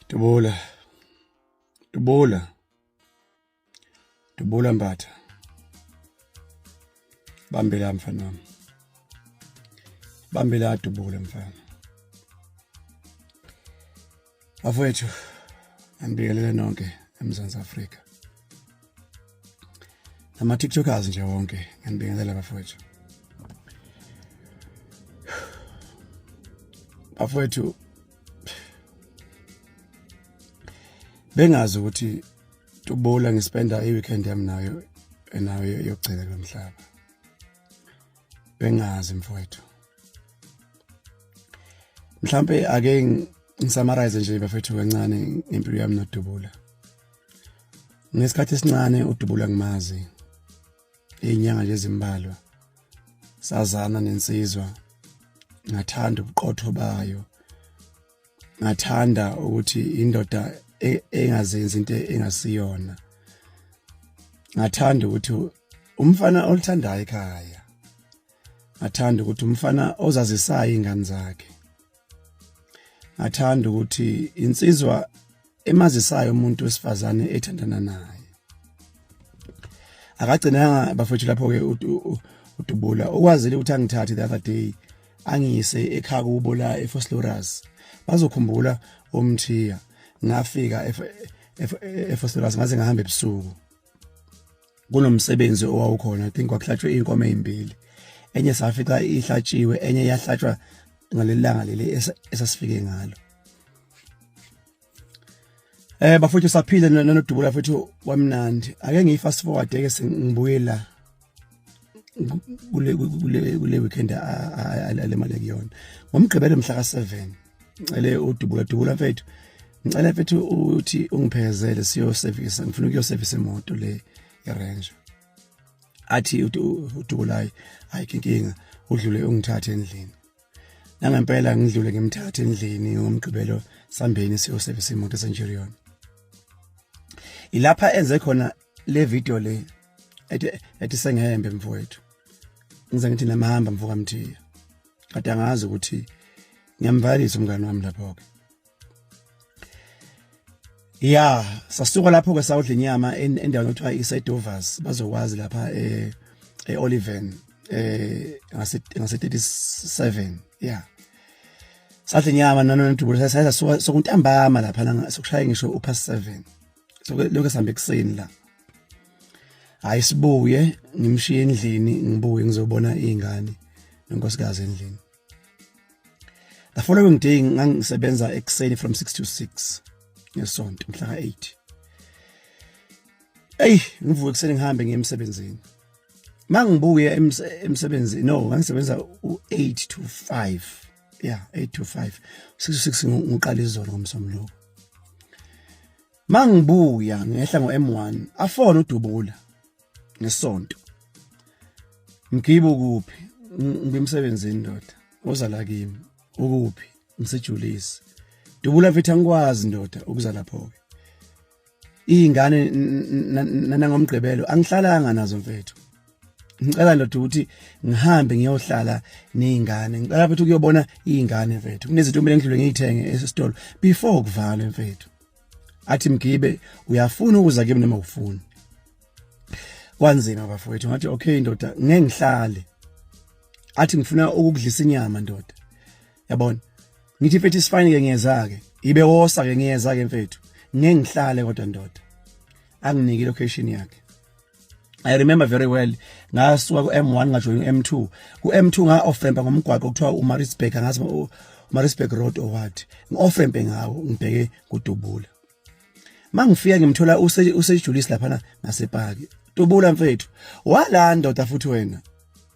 Dubula. Dubula. Dubula Mbatha. Bambela mfana wami. Bambela dubula mfana. bafowethu anibingelele nonke emzansi afrika nama-tiktokers nje wonke nganibingelela bafowethu bafowethu bengazi ukuthi tubula ngispenda i-weekend yami nayo enayo yokugcina lo mhlaba bengazi mfowethu mhlambe ake ngisummarize nje bafethu kancane ngempilo yami nodubula ngesikhathi esincane udubula ngimazi inyanga nje ezimbalwa sazana nensizwa ngathanda ubuqotho bayo ngathanda ukuthi indoda e-, engazenzi into engasiyona ngathanda ukuthi umfana olithandayo ekhaya ngathanda ukuthi umfana ozazisayo ingane zakhe ngathanda ukuthi insizwa emazisayo umuntu wesifazane ethandana naye akagcinanga bafethu lapho ke udubula okwazile ukuthi angithathe the other day angiyise ekhaya kubo la eFoslorus bazokhumbula omthiya ngafika eFoslorus ngaze ngahamba ebusuku kunomsebenzi owawukhona i think kwakuhlatshwe inkomo ezimbili enye safica ihlatshiwe enye yahlatshwa ngalelanga leli esasifike ngalo Eh bafowethu saphila nonodubula futhi wamnandi ake ngiyi fast forward ke sengibuye la kule kule kule weekend alemale kuyona ngomgqibelo mhla ka7 ngicele udubula dubula mfethu ngicela mfethu uthi ungiphezele siyo service ngifuna ukuyo service imoto le iRanger athi udubulayi hayi inkinga udlule ungithathe endlini nangempela ngidlule ngimthathe endlini ngomgqibelo sambeni siyo service imoto eSenchurion ilapha enze khona le video le ethi ethi sengehembe mfowethu ngize ngithi namahamba mfoka mthiya kade angazi ukuthi ngiyamvalisa umngane wami lapho ke ya sasuka lapho ke sawudla inyama endaweni okuthiwa isedovers bazokwazi lapha eh eOliven eh ngase ngase 37 ya sadla inyama nanondubulo sasasuka sokuntambama lapha sokushaya ngisho upast 7 so lokho sihambe kuseni la hayi sibuye ngimshiye endlini ngibuye ngizobona izingane nonkosikazi endlini the following day ngangisebenza ekuseni from 6 to 6 ngesonto mhla ka 8 ey ngivuke kuseni ngihambe ngiye emsebenzini mangibuye emsebenzini no ngangisebenza u8 to 5 ya 8 to 5 6 ngiqala izolo ngomsombuluko mangibuya ngehla ngo M1 afona udubula ngesonto mgibo kuphi ngibemsebenzini ndoda ozala kimi ukuphi msejulisi dubula mfethu angikwazi ndoda ukuza lapho ke iy'ngane nanangomgqibelo angihlalanga nazo mfethu ngicela ndoda ukuthi ngihambe ngiyohlala nezingane ngicela futhi ukuyobona izingane mfethu kunezinto kumele ngidlule ngiyithenge esitolo before kuvalwe mfethu athi mgibe uyafuna ukuza kimi noma ufuni kwanzima bafowethu ngathi okay ndoda ngeke ngihlale athi ngifuna ukudlisa inyama ndoda yabona ngithi mfethu isifine ke ngiyeza ke ibe wosa ke ngiyeza ke mfethu ngeke ngihlale kodwa ndoda anginike location yakhe I remember very well ngasuka ku M1 ngajoyina u M2 ku M2 nga offrempa ngomgwaqo kuthiwa u Marisburg ngazi Marisburg Road or what ngi offrempe ngawo ngibheke kudubula mangifika ngimthola use usejulisi lapha na ngasepaki tubula mfethu wala ndoda futhi wena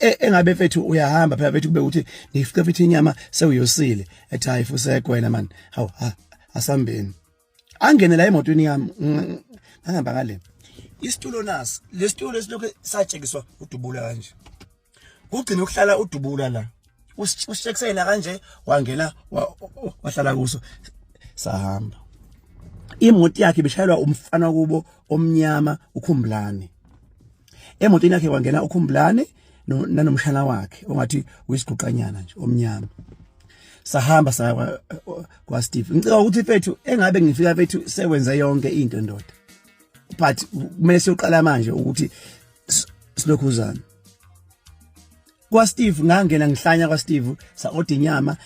e, engabe mfethu uyahamba phela mfethu kube ukuthi ngifike mfethu inyama sewuyosile ethi hayi fusekho wena man haw ha asambeni angene la emotweni yami ngihamba ngale isitulo nasi lesitulo lesilokhu satshekiswa udubula kanje kugcina ukuhlala udubula la usishekisela kanje wangena wahlala kuso sahamba imoto yakhe ibishayelwa umfana kubo omnyama ukhumbulane emotweni yakhe kwangena ukhumbulane nanomshana wakhe ongathi uyisiguqanyana nje omnyama sahamba saya kwa, kwa Steve ngicela ukuthi mfethu engabe ngifika mfethu sewenze yonke into ndoda but kumele siyoqala manje ukuthi silokhuzana kwa Steve ngangena ngihlanya kwa Steve sa order inyama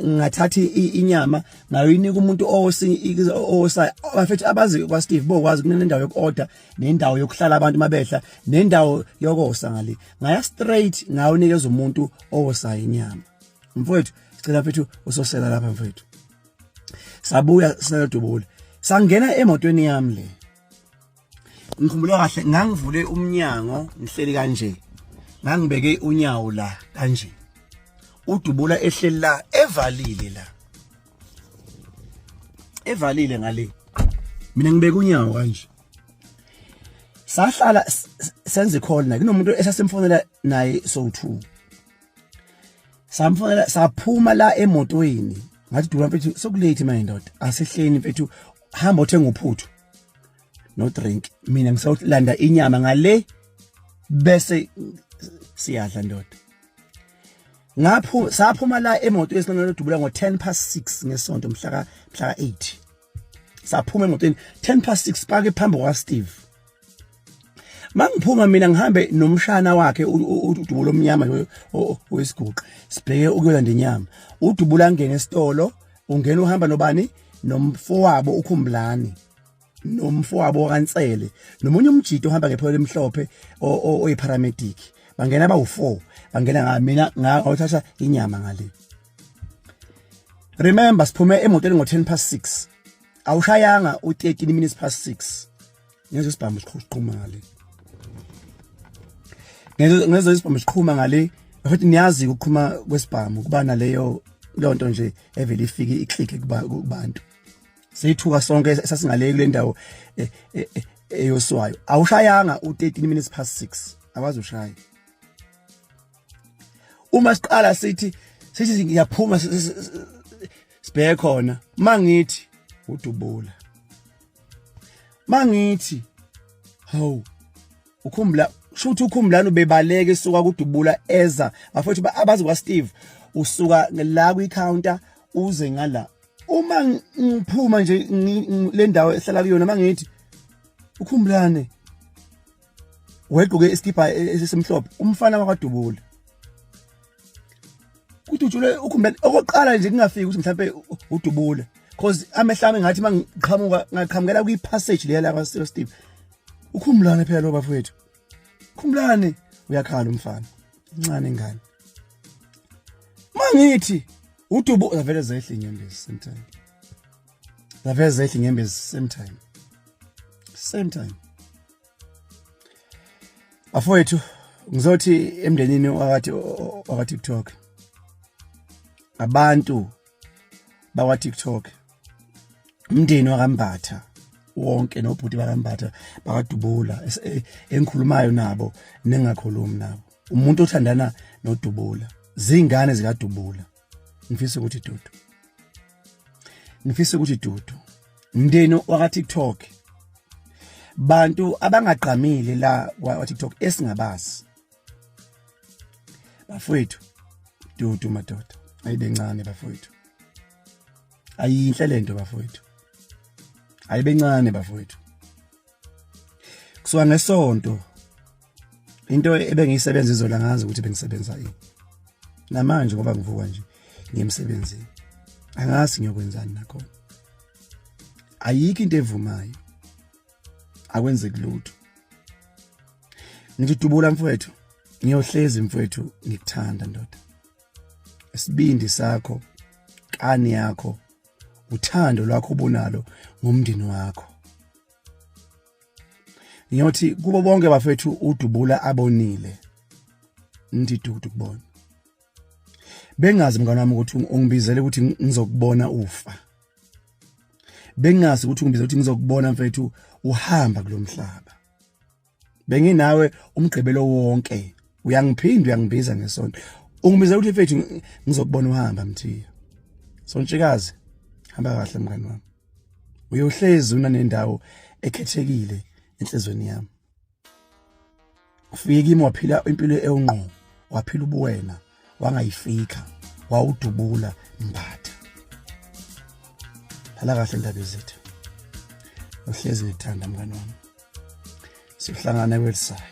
ngathatha inyama ngayinika umuntu owosa bafethu abazi kwa Steve bokwazi kunendawo yokuorder nendawo yokuhlala abantu mabehla nendawo yokosa ngale ngaya straight ngawunikeza umuntu owosa inyama mfowethu sicela mfethu usosela lapha mfowethu sabuya sinedubule sangena emotweni yami le ngikhumbula kahle ngangivule umnyango ngihleli kanje ngangibeke unyawo la kanje udubula ehleli la evalile la evalile ngale mina ngibeka unyawo kanje sahlala senze call naye kunomuntu esasimfonela naye so 2 samfonela saphuma la emotweni ngathi dula mfethu sokulate manje ndoda asihleni mfethu hamba othenga uphuthu no drink mina ngisawulanda inyama ngale bese siyadla ndoda ngaphu saphuma la emotweni sinqenela udubula ngo 10 past 6 ngesonto mhla ka mhla ka 8 saphuma emotweni 10 past 6 pake phambi kwa Steve mangiphuma mina ngihambe nomshana wakhe udubulo omnyama loyo oyisiguqa sibheke ukuyolanda inyama udubula ngene esitolo ungena uhamba nobani nomfowabo ukhumbulani nomfowabo wakansele nomunye umjito ohamba ngepholo emhlophe oyiparamedic bangena bawu-four bangena nga mina ngawuthatha inyama ngale remember siphume emotweni ngo-ten past six awushayanga u-thirteen minutes past six ngeze sibhambe siqhumale ngeze ngeze sibhambe siqhuma ngale futhi niyazi ukuqhuma kwesibhamu kuba naleyo lonto nje evele ifike iclick kubantu seyithuka sonke sasingale kule ndawo eh, eh, eh, eyoswayo awushayanga u13 minutes past 6 awazi ushaya uma siqala sithi sithi ngiyaphuma sibheke khona mangithi udubula mangithi hawu ukhumbula shuthi ukhumbulani ubebaleke suka kudubula eza bafethu abazi kwa Steve usuka la kwi counter uze ngala uma ngiphuma nje le ndawo ehlala kuyona mangithi ukhumbulane wegqoke isikibha e, e, esimhlophe umfana wakwadubula kudutshulwe ukhumbela okokuqala nje kungafiki ukuthi mhlawumbe udubule cause amehlami ngathi mangiqhamuka ngaqhamukela kwi passage leya la kwaSilo Steve ukhumulane phela lo bafowethu khumulane uyakhala umfana incane ingane mangithi udubu zavele zehle inyembezi same time zavele zehle inyembezi same time same time bafowethu ngizothi emndenini wakathi wakwa-tiktok abantu bakwa-tiktok umndeni wakambatha wonke nobhuti bakambatha bakadubula e, engikhulumayo nabo nengakhulumi nabo umuntu othandana nodubula zingane zikadubula ngifisa ukuthi dudu ngifisa ukuthi dudu mndeni waka TikTok bantu abangagqamile la kwa TikTok esingabazi bafowethu dudu madoda ayibencane bafowethu ayinhle lento bafowethu ayibencane bafowethu kusuka ngesonto into ebengiyisebenza izola ngazi ukuthi bengisebenza yini namanje ngoba ngivuka nje ngiyemsebenzini angazi ngiyokwenzani nakhona ayikho into evumayo akwenzeki lutho ngithi dubula mfowethu ngiyohlezi mfowethu ngikuthanda ndoda isibindi sakho kani yakho uthando lwakho obunalo ngomndeni wakho ngiyothi kubo bonke bafethu udubula abonile ndidudu kubona bengazi mngane wami ukuthi ungibizele ukuthi ngizokubona ufa bengazi ukuthi ungibizele ukuthi ngizokubona mfethu uhamba kulomhlaba benginawe umgqibelo wonke uyangiphinda uyangibiza ngesonto ungibiza ukuthi mfethu ngizokubona uhamba mthiya sontshikazi hamba kahle mngani wami uyohlezi una nendawo ekhethekile enhlizweni yami ufike kimi waphila impilo ewungqo waphila ubuwena wangayifika wawudubula mbatha hala kahle indaba ezethu uhlezi ngithanda mngane wami sihlangana kwelisayo